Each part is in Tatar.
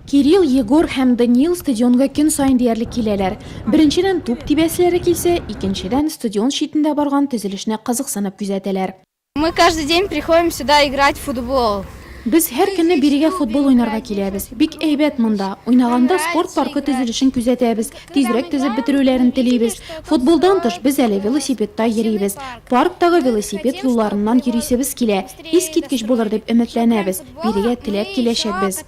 Кирилл, Егор һәм Даниил стадионга көн саен диярлек киләләр. Беренчедән, туп тибәселәре килсә, икенчедән, стадион читендә барган төзелешне кызыксынып күзәтәләр. Мы каждый день приходим сюда играть в футбол. Без һәр көнне бирегә футбол уйнарга киләбез. Бик әйбәт монда. Уйнаганда спорт паркы төзелешен күзәтәбез, тизрәк төзеп бетерүләрен телибез. Футболдан тыш, без әле велосипедта йөрибез. Парктагы велосипед юлларыннан йөрисебез килә. Искиткеч булыр дип өметләнәбез. Бирегә теләп киләчәкбез.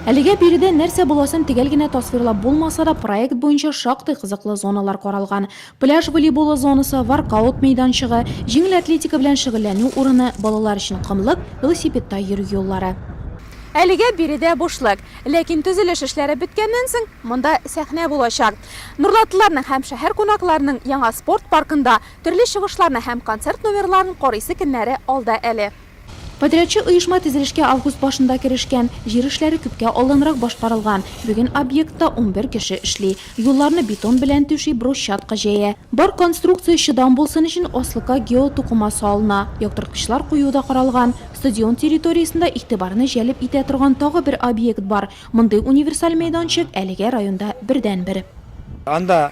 Әлегә биредә нәрсә буласын төгәл генә тасвирлап булмаса да, проект буенча шактый кызыклы зоналар каралган. Пляж волейболы зонасы, воркаут мәйданчыгы, җиңел атлетика белән шөгыльләнү урыны, балалар өчен комлык, велосипедта йөрү юллары. Әлегә биредә бушлык, ләкин төзелеш эшләре беткәннән соң, монда сәхнә булачак. Нурлатлыларның һәм шәһәр кунакларының яңа спорт паркында Төрле чыгышларны һәм концерт номерларын карыйсы көннәре алда әле. Подрядчы оешма төзелешкә август башында керешкән. Җир эшләре күпкә алданрак башкарылган. Бүген объектта унбер кеше эшли. Юлларны бетон белән түши, брусчатка җәя. Бар конструкция чыдам булсын өчен аслыкка геотукыма салына. Яктырткычлар кую да каралган. Стадион территориясендә игътибарны җәлеп итә торган тагы бер объект бар. Мондый универсаль мәйданчык, әлегә районда бердәнбер. Анда